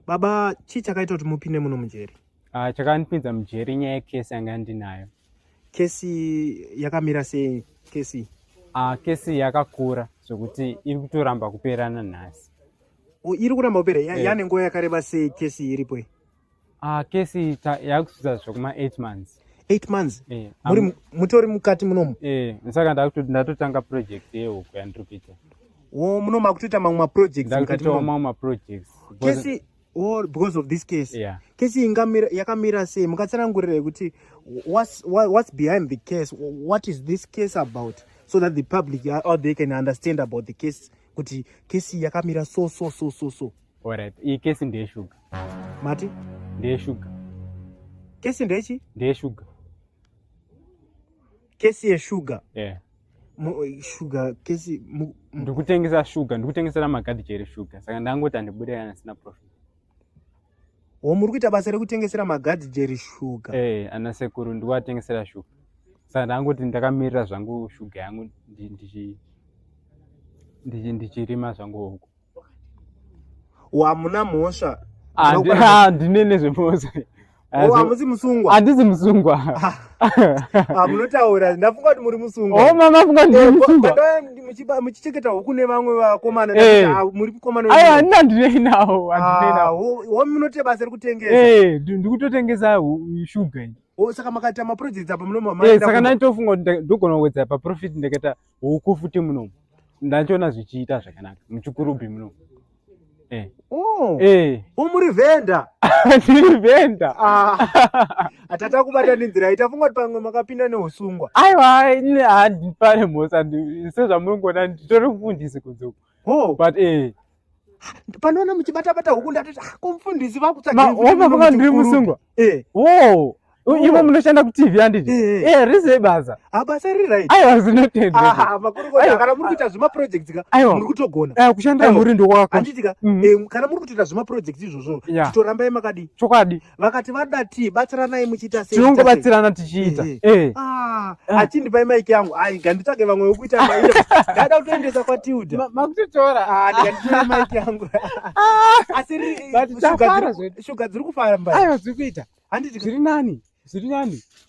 baba chii chakaita kuti mupinde muno mujeri uh, chakandipinza mujeri inyaya yekesi yanga ndinayo kesi yakamira sei kesi uh, kesi yakakura zvekuti iri kutoramba kuperana nhasi oh, iri kuramba kupera yeah. yane nguva yakareba sei kesi iripo uh, kesi yakusvitsa zvekuma 8 months 8 months yeah. muri mutori mukati munomu yeah. saka ndatotanga project yehuku yandiri kuita Oh, muno makutoita mamwe maprojects mukati mo. Mamwe maprojects. Kesi or because of this case. Yeah. Kesi ingamira yakamira sei mukatsanangurira yekuti what's what, what's behind the case? What is this case about? So that the public or they can understand about the case kuti kesi yakamira so so so so so. All right. Iyi kesi ndeye sugar. Mati? Ndeye sugar. Kesi ndechi? Ndeye sugar. kesi yeshuga yeah. shuga kesi ndikutengesa shuga ndikutengesera magadhi chero shuga saka ndangoti andibude kana sina profit wo muri kuita basa rekutengesera magadhi jeri shuga hey, eh, ana sekuru ndikuatengesera shuga saka ndangoti ndakamirira zvangu shuga yangu ndichirima zvangu huku wamuna mhosva handine nezvemhosva hamusi musungwa handisi musungwa hamunotaura ndafunga kuti muri musungwamuchicheketa huku nevamwe vakomana muri kukomanahandina ndinei nawo munote basa rekutengesa ndikutotengesa shuga saka makaita maprojects apa munomaasaka ndanditofunga kuti ndogona kuwedza paprofit ndakaita huku futi munomu ndachiona zvichiita zvakanaka muchikurubhi munomu eh. oh. eh. umuri vhenda ndiri vhenda ah. atati akubata nenzira ita funga kuti pamwe makapinda neusungwa aiwa handipane mhosa sezvamuringoona nditori kufundisi kunze uku oh. but eh panoona muchibata bata huku ndatoti ah, kumfundisi vakutsvagaomavaka ndiri musungwa eh. wo ivo munoshanda kutv handiti eh. eh, rize basa ah, basa ririaiwa zvinotendaamakorokoakana muri kuita zvemaprojects ka muri kutogona kushandira muri ndokwakakana mm. muri kutoita zvemaprojects izvozvo titorambai makadii chokwadi vakati vada tii batsiranai muchiita sei tinongo batsirana tichiita eh, eh. eh. ah, ah. achindipai maiki yangu ai ganditsvage vamwe wekuita maiki ndaida kutoendesa kwatilda makutotora ah, ndikanditora maiki yangu asi shuga dziri kufara mbai aiwa dziri kuita handiti zviri nani zviri nani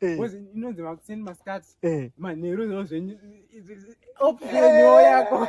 Eh. Wezi inonzi makuseni masikati. Eh. Manheru zvinhu zvenyu. Open yako.